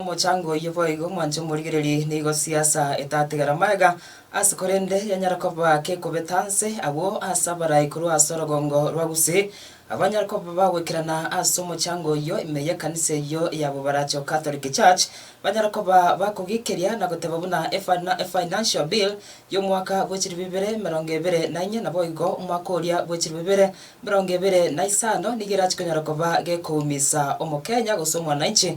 Omochango oyio boigo mwanche omorigererie, nigo siasa etatigara magega ase korende yanyare koba kekobeta nse agwo ase abarai korwa ase orogongo rwa gusii, abanyare koba bagoikerana ase omochango oyio ime y'ekanisa eyio ya bobaracho Catholic Church banyare koba bakogiikeria na goteba buna e financial bill y'omwaka bw'echiribu ibere emerongo ebere na inye naboigo omwaka oria bw'echiribu ibere emerongo ebere na isano nigo erachikonyara koba gekoumisa omokenya gose omwanainchi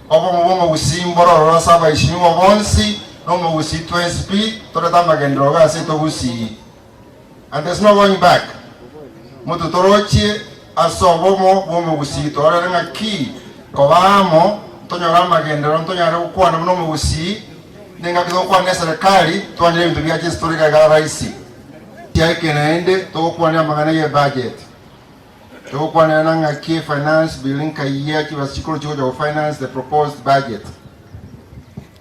Obomo bw'omogusii mbororo ase abaisinyugwa bonsi, na omogusii twensi pi torete amagenderero gase togusii. And there's no going back. Mototorochie ase obomo bw'omogusii torore ng'aki koba amo ntonyore amagenderero ntonyare gokwana buna omogusii, nengaki togokwana ne serikali twanyore ebinto biacha ase tore iga iga raisi. Tiaike naende togokwanire amang'ana ye budget. Togokwanera ng'aki e finance bill nkayia chibasikuuru chigocha go finance the proposed budget.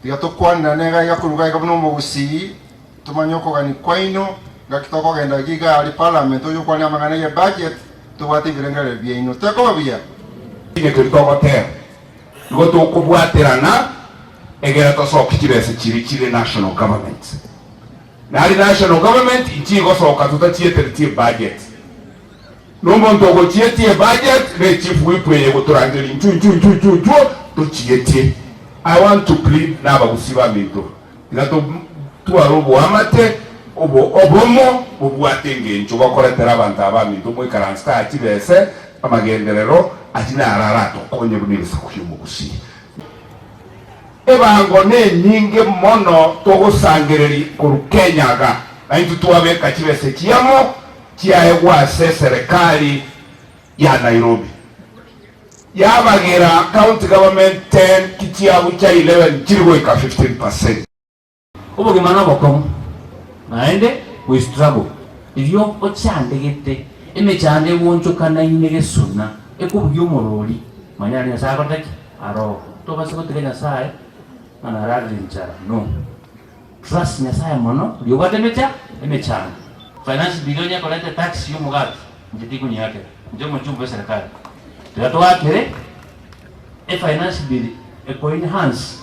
Tiga tokwanera nega iga korwa iga buna omogusii, tomanye okogania kwaino, ngaki tokogenda iga iga aria parliament oye okwanera amang'ana ye budget tobwate ebirengererio biaino. Tekoba buya? Inwe keria togoteba nigo tokobwatera ng'a egera tosokie chibesa chiria chire national government. Nari national government ichigosoka totachietereti ebudget. Nomonto ogochietia ebudget ne chief whip eye gotorangeria inchuo inchuo inchuo inchuo inchuo tochietie. I want to plead nabagusii baminto tiga totware oboamate obo obomo bobwate engencho bakoretera abanto aba baminto moikaranse taa chibese amagenderero aria naro aratokonye buna egesaku kiomogusii. Ebango nenyinge mono togosangereri korwa Kenya iga, naintwe twabeka chibesa echi amo chiaegwa ase eserekari ya Nairobi yabagera county government ten ki chiabu chia eleven chiri goika fifteen percent. Obogima nobokong'u, naende we struggle erio ochande gete emechando egonchokanaine gesuna ekobugia omorori manya naende Nyasaye akore ki? Aroo. Tobasa gotiga Nyasaye ng'a nararire enchara no. Trust Nyasaye mono riria obwate emecha emechando. Finance bill onye ekorete tax ya omogati inche tikonyeakera inche omochumba bwe serikali tiga toakere efinance bill ekoine hansi.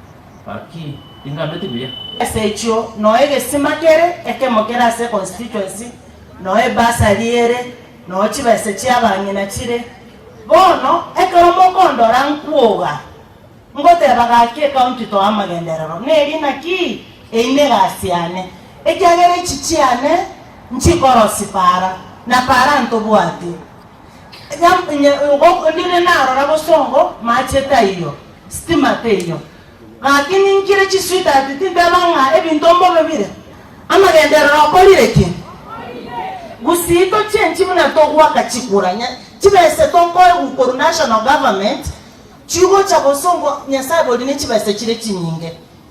Ase echio noo egesima kere ekemo kere ase econstituency noo ebursary ere noo chibesa chiabang'ina chire. Bono ekero mokondora nkwoga ngoteba gaki ecounty too amagenderero neri naki eine egasi yane ekiagera echi chiane nchikorosipara na para ntobwati. Onde narora bosongo mache taiyo, stima teiyo. Gaki ninkire chisweetheart tinteba ng'a ebinto mbobe bire. Amagenderero okorire ki? Gusii tochenchi buna togwaka chikura. Chibese tokoegwa korwa national government chigocha bosongo Nyasaye bori ne chibese chire chinyinge.